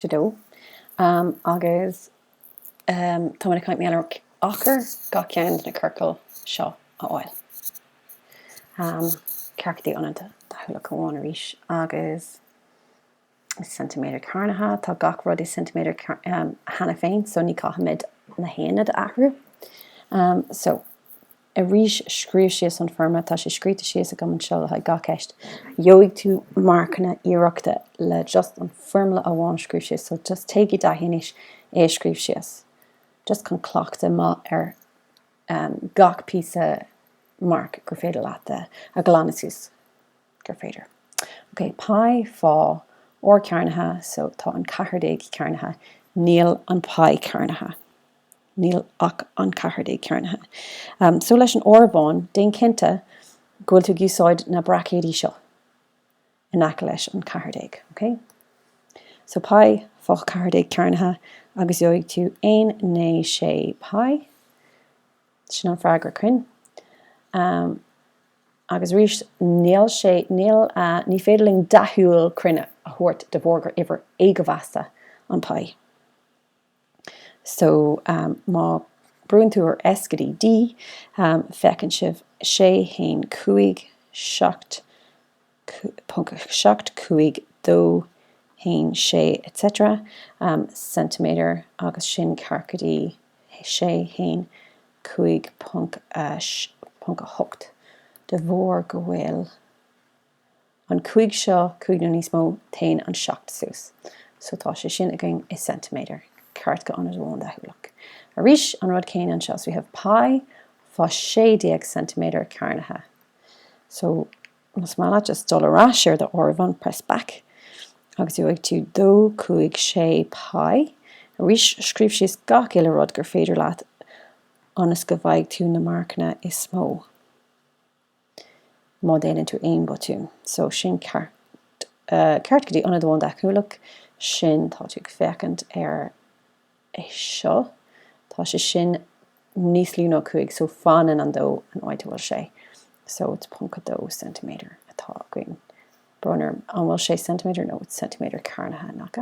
2 agus tá muid ag caint maidir le achar gach ceann de na ciorcail seo a fháil. Ceart go dtí ionad deachúlach amháin arís agus is ceintiméadar cearnaithe atá gach rud i ceintiméadar cheana féin so ní caithfimid na haonaid a athrú. So. arís scríobh síos an foirmle, tá sé scríofa síos agam anseo le haghaidh gach ceist. Gheobhaidh tú marcanna iarrachta le just an foirmle amháin a scríobh síos so just téigh i dtaithí anois é a scríobh síos just chun cleachtadh maith ar ehm gach píosa marc gur féidir leat a a ghlanadh suas gur féidir. Ok, Pi, Fá, R cearnaithe so tá an ceathair déag cearnaithe níl an Pi cearnaithe. níl ach an ceathair déag cearnaithe. So leis an áireamhán, déan cinnte go bhfuil tú ag úsáid na braicéidí seo in aice leis an ceathair déag, ok? So paí fá ceathair déag cearnaithe agus gheobhaidh tú aon naoi sé paí. Sin an freagra cruinn. Agus arís, níl sé, níl, ní féidir linn deachúil cruinn a thabhairt de bharr gur uimhir éagóimheasta an paí. so má brúann tú ar S go dtí D feiceann sibh sé haon cúig seacht ponc seacht cúig dó haon sé etc ceintiméadar agus sin ceart go dtí sé haon cúig ponc ponc a hocht de bharr go bhfuil An cúig seo, cúig nó níos mó, téann an seacht suas. So tá sé sin againn i ceintiméadar, ceart go ionad amháin deachúlach. Arís, an rud céanna anseo, so we have pi fá sé déag ceintiméadar cearnaithe. So más maith leat just dul ar ais ar do áireamhán, press back, agus gheobhaidh tú dó cúig sé pi. Arís, scríobh síos gach uile rud gur féidir leat ionas go bhfaighidh tú na marcanna is mó. má déanann tú aon botún. So sin ceart ceart go dtí ionad amháin deachúlach sin tá tú ag féachaint ar é seo. Tá sé sin níos lú ná 5 so fanann an 2 an áit a bhfuil sé. So it's 0.2 cm atá againn. Brón orm, an bhfuil sé cm nó it's cm cearnaithe, nach ea?